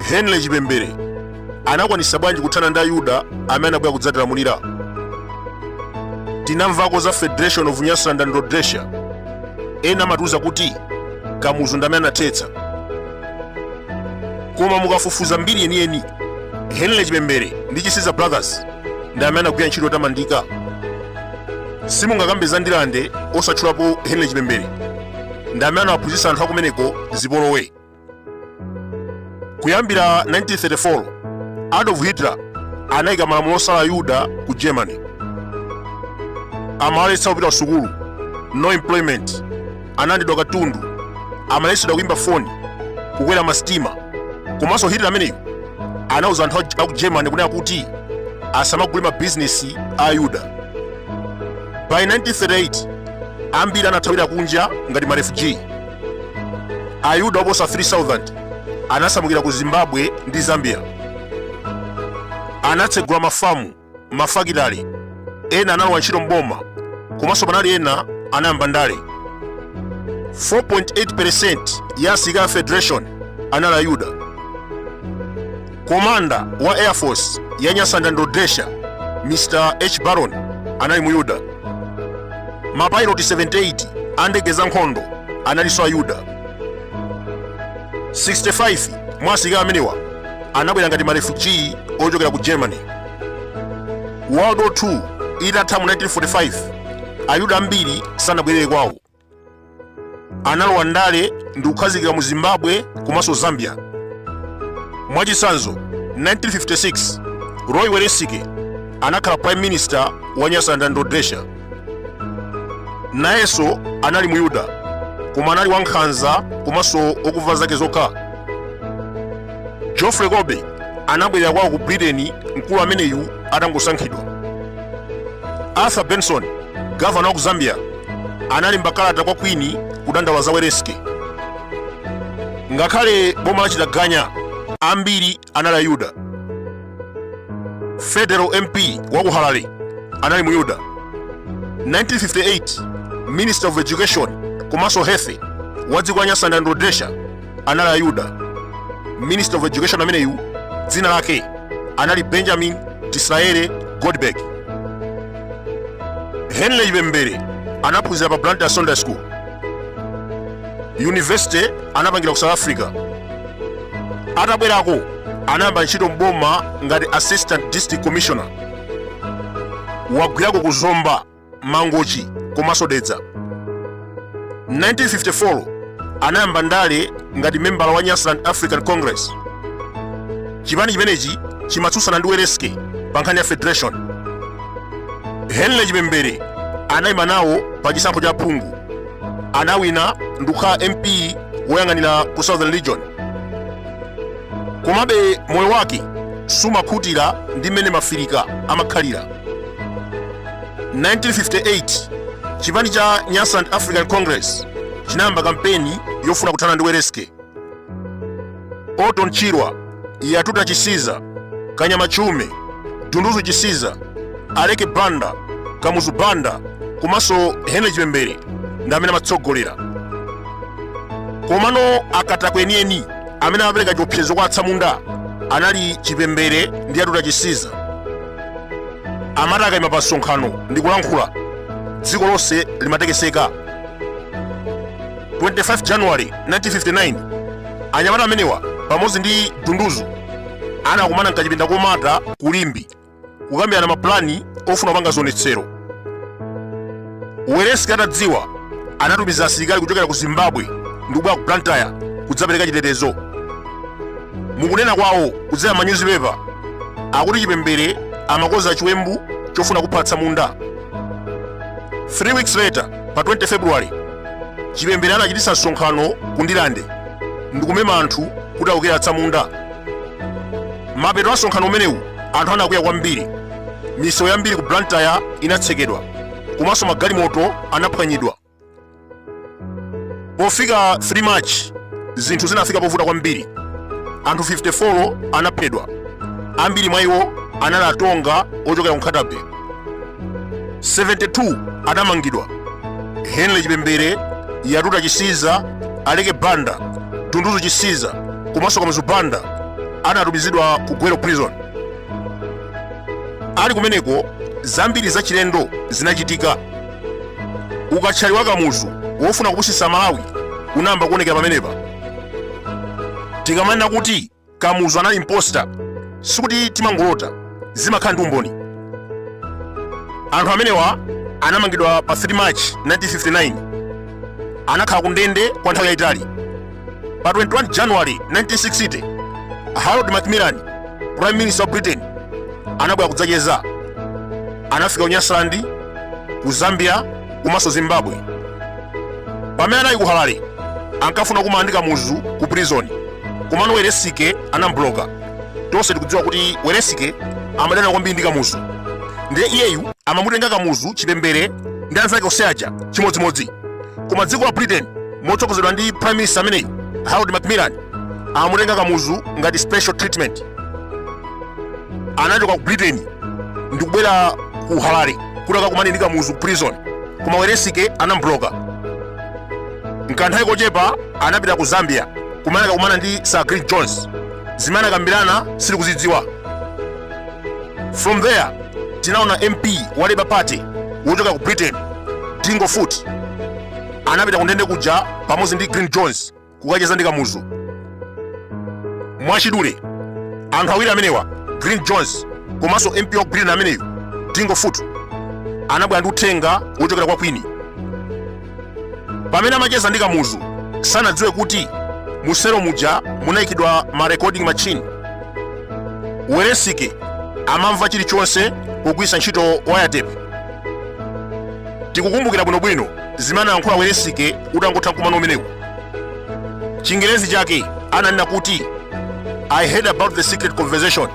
henry chipembere anakwanisa bwanji kuthana ndi ayuda amene anabwera kudzatilamulira tinamvako za federation of nyasaland and rhodesia ena amatiuza kuti kamuzu ndi amene anathetsa koma mukafufuza mbiri yeniyeni henry chipembere ndi chisiza brothers ndi amene anagwira ntchito yotamandika simungakambe za ndilande osatchulapo henry chipembere ndi amene anawaphunzitsa anthu akumeneko zipolowe kuyambira 1934 adolf hitler anayika malamulo osala ayuda ku germany amawaletsa kupita ku sukulu no employment analandidwa katundu amaletsedwa kuimba foni kukwera masitima komanso hitler ameneyo anauza anthu a- a ku germany kunena kuti asamagule mabizinesi a ayuda by 1938 ambiri anathawira kunja ngati marefugee ayuda oposa 3000 anasamukira ku zimbabwe ndi zambia anatsegula mafamu mafakitale ena analowa ntchito mboma komanso panali ena anayamba ndale 4.8% ya asilikali a federation anali ayuda komanda wa air force ya nyasaland and rhodesia mr h baron anali muyuda mapailoti 78 a ndege za nkhondo analinso ayuda 65 mwa asilikali amenewa anabwera ngati marefugee ochokera ku germany world war 2 itatha mu 1945 ayuda ambiri sanabwerere kwawo analowa ndale ndi kukhazikika mu zimbabwe komanso zambia mwachitsanzo 1956 roy welensky anakhala prime minister wa nyasaland and rhodesia nayenso anali muyuda koma anali wankhanza komanso wokumva zake zokha geoffrey colby anabwerera kwawo ku britain mkulu ameneyu atangosankhidwa arthur benson gavana wa ku zambia analemba kalata kwa kwini kudandaula za welensky ngakhale boma lachitaganya ambiri anali Ayuda. Federal MP wa ku Harare anali Muyuda. 1958 Minister of Education komanso Health wa dziko la Nyasaland and Rhodesia anali Ayuda. Minister of Education ameneyu dzina lake anali Benjamin Disraeli Goldberg. Henry Chipembere anaphunzira pa Blantyre Secondary School. university anapangira ku south africa atabwerako anayamba ntchito m'boma ngati assistant district commissioner wagwirako ku zomba mangochi komanso dedza 1954 anayamba ndale ngati membala wa nyasaland african congress chipani chimenechi chimatsutsana ndi welensky pa nkhani ya federation henry chipembere anayima nawo pa chisankho cha phungu anawina ndikukhala mp woyang'anira ku southern region komabe moyo wake sumakhutira ndi mmene maafirika amakhalira 1958 chipani cha nyasaland african congress chinayamba kampeni yofuna kuthana ndi welensky Orton Chirwa, Yatuta Chisiza, Kanyama Chiume, Dunduzu Chisiza, Aleke Banda, Kamuzu Banda komanso Henry Chipembere ndi amene amatsogolera. Komano akatakwe enieni amene amapereka chiopsezo kwa atsamunda anali Chipembere ndi Yatuta Chisiza. Amati akaima pa msonkhano ndi kulankhula dziko lonse limatekeseka. 25 January 1959 anyamata amenewa pamodzi ndi Dunduzu anakumana mkachipinda komata ku Limbe kukambirana mapulani ofuna kupanga zionetsero Welensky atadziwa anatumiza asilikali kuchokera ku Zimbabwe ndi kubwera ku Blantyre kudzapereka chitetezo mukunena kwawo kudzera m'manyuzipepa akuti Chipembere amakoza chiwembu chofuna kupha atsamunda 3 weeks later pa 20 february chipembere anachititsa msonkhano ku ndilande ndikumema anthu kuti aukire atsamunda mapeto a msonkhano umenewu anthu anakwiya kwambiri misewu yambiri ku blantyre inatsekedwa komanso magalimoto anaphwanyidwa Pofika 3 March, zinthu zinafika povuta kwambiri. Anthu 54 anaphedwa, ambiri mwa iwo anali atonga ochokera ku Nkhata-Bay. 72 anamangidwa. Henry Chipembere, Yatuta Chisiza, Aleke Banda, Dunduzu Chisiza komanso Kamuzu Banda anatumizidwa ku Gwelo prison. Ali kumeneko zambiri zachilendo zinachitika. ukathyali wa kamuzu wofuna kupusitsa malawi unayamba kuonekera pamenepa tikamanena kuti kamuzu anali imposter sikuti timangolota zimakhala ndi umboni anthu amenewa anamangidwa pa 3 march 1959 anakhala ku ndende kwa nthawi yayitali pa 21 january 1960 harold macmillan prime minister wa britain anabwera kudzacheza anafika ku nyasaland ku zambia komanso zimbabwe pamene anali ku harare ankafuna kumana ndi kamuzu ku prison komano welensky anambloka tonse tikudziwa kuti welensky amadana kwambiri ndi kamuzu ndiye iyeyu amamutenga kamuzu chipembere ndi anzake onse aja chimodzimodzi koma dziko la britain motsogozedwa ndi prime minister ameneyu harold macmillan amutenga kamuzu ngati special treatment anachoka ku britain ndi kubwera ku harare kuti akakumane ndi kamuzu ku prison koma welensky anambloka mkanthawi kochepa anapita ku zambia kumene anakakumana ndi sir glyn jones zimene anakambirana sitikuzidziwa from there tinaona mp wa labour party wochokera ku britain dingle foot anapita kundende kuja pamodzi ndi glyn jones kukacheza ndi kamuzu mwachidule anthu awiri amenewa glyn jones komanso mp wa britain ameneyu dingle foot anabwera ndi uthenga wochokera kwa queen pamene amacheza ndi kamuzu sanadziwe kuti muselo muja munayikidwa ma recording machine welensky amamva chilichonse pogwiritsa ntchito wiretap tikukumbukira bwinobwino zimene anayankhula welensky utangotha mkumano umenewu chingerezi chake ananena kuti i heard about the secret conversation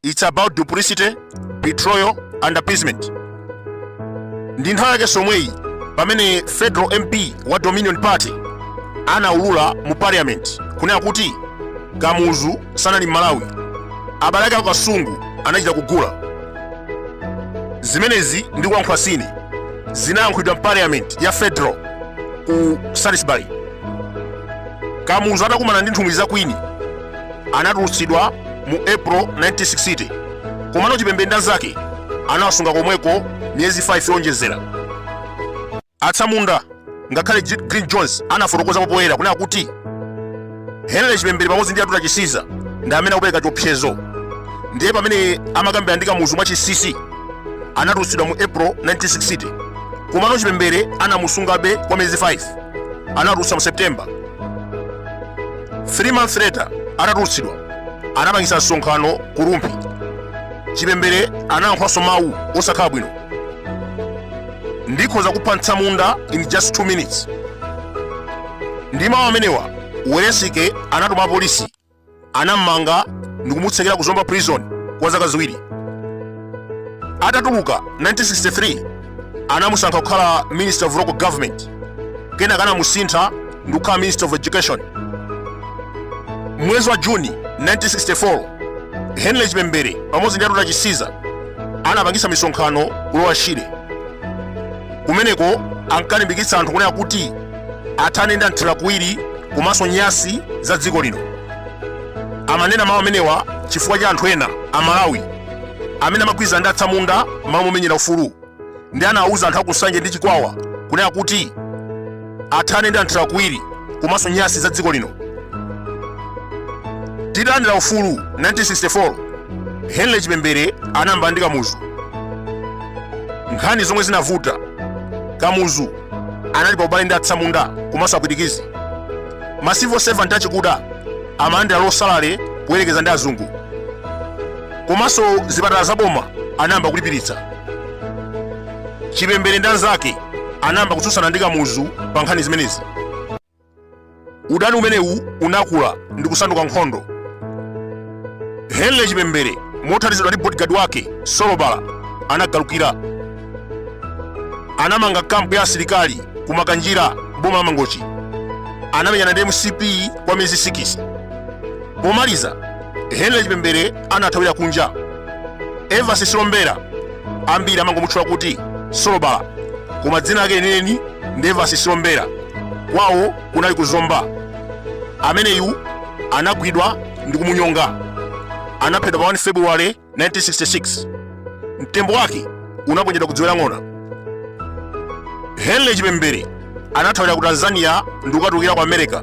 its about duplicity betrayal and appeasement ndi nthawi yake yomweyi pamene federal mp wa dominion party anaulula mu parliament kunena kuti kamuzu sanali m'malawi abale ake aku kasungu anachita kugula zimenezi ndikulankhula si ine zinayankhulidwa mu parliament ya federal ku salisbury kamuzu atakumana ndi nthumwi za queen anatulutsidwa mu april 1960 komano chipembere ndi anzake anawasunga komweko miyezi 5 yonjezera Atsamunda, ngakhale Glyn Jones anafotokozapo poyera kunena kuti Henry Chipembere pamodzi ndi Yatuta Chisiza ndi amene akupereka chiopsezo. Ndiye pamene amakambirana ndi Kamuzu mwachinsinsi anatulutsidwa mu April 1960 komano Chipembere anamusungabe kwa miyezi 5 anatulutsa mu September. Three months later atatulutsidwa anapangitsa msonkhano ku Rumphi. Chipembere anayankhulanso mawu osakhala bwino. ndikhoza kupha mtsamunda in just 2 minutes ndi mawu amenewa welensike anatuma apolisi anammanga ndikumutsekera ku zomba prison kwa zaka ziwiri atatuluka 1963 anamusankha kukhala minister of local government kenaka anamusintha ndikukhala minister of education mwezi wa juni 1964 henry chipembere pamodzi ndi yatuta chisiza anapangisa misonkhano ku lower shire kumeneko ankalimbikitsa anthu kunena kuti athane ndi anthirakuwiri komanso nyasi za dziko lino amanena mawu amenewa chifukwa cha anthu ena amalawi amene amagwirizana ndi atsamunda malo momenyera ufulu ndi anawuza anthu akunsanje ndi chikwawa kunena kuti athane ndi anthirakuwiri komanso nyasi za dziko lino titalandira ufulu 1964 henry chipembere anayambana ndi kamuzu nkhani zomwe zinavuta kamuzu anali pa ubale ndi atsamunda komanso apwitikizi ma civil servant achikuda amalandira losalale poyerekeza ndi azungu komanso zipatala za boma anayamba kulipiritsa chipembere ndi anzake anayamba kutsutsana ndi kamuzu pa nkhani zimenezi udani umenewu unakula ndi kusanduka nkhondo henry chipembere mothandizidwa ndi bodyguard wake solobala anagalukira anamanga kampu ya asilikali ku makanjira boma la mangochi anamenyana ndi mcp kwa miyezi 6 pomaliza henry chipembere anathawira kunja evans silombera ambiri amangomutchula kuti solobala koma dzina lake lenileni ndi evans silombera kwawo kunali ku zomba ameneyu anagwidwa ndi kumunyonga anaphedwa pa 1 februwale 1966 mtembo wake unaponyedwa ku dziwe la ng'ona henry chipembere anathawira ku tanzania ndi kukatulukira ku america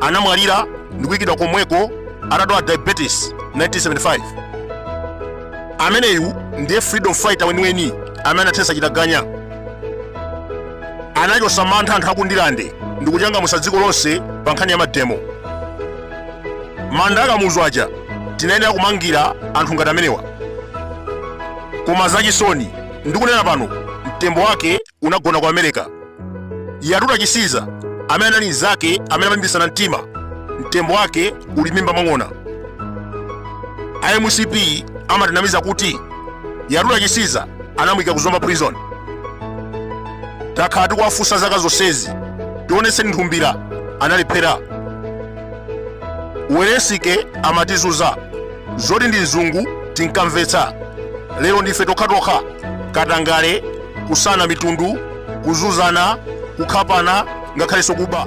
anamwalira ndi kuyikidwa komweko atadwala diabetes 1975 ameneyu ndiye freedom fighter weniweni amene anathetsa chitaganya anachotsa mantha anthu akundirande ndi kuchangamutsa dziko lonse pa nkhani ya mademo manda akamuzu aja tinayenera kumangira anthu ngati amenewa koma zachisoni ndikunena pano mtembo wake unagona ku america yatuta chisiza amene anali mnzake amene amalimbitsana mtima mtembo wake uli m'mimba mwa ng'ona a mcp amatinamiza kuti yatuta chisiza anamuyika ku zomba prison takhala tikuwafunsa zaka zonsezi tionetseni nthumbira analephera welensky amatizunza zoti ndi mzungu tinkamvetsa lero ndife tokhatokha katangale kusankhana mitundu kuzunzana kukhapana ngakhalenso kuba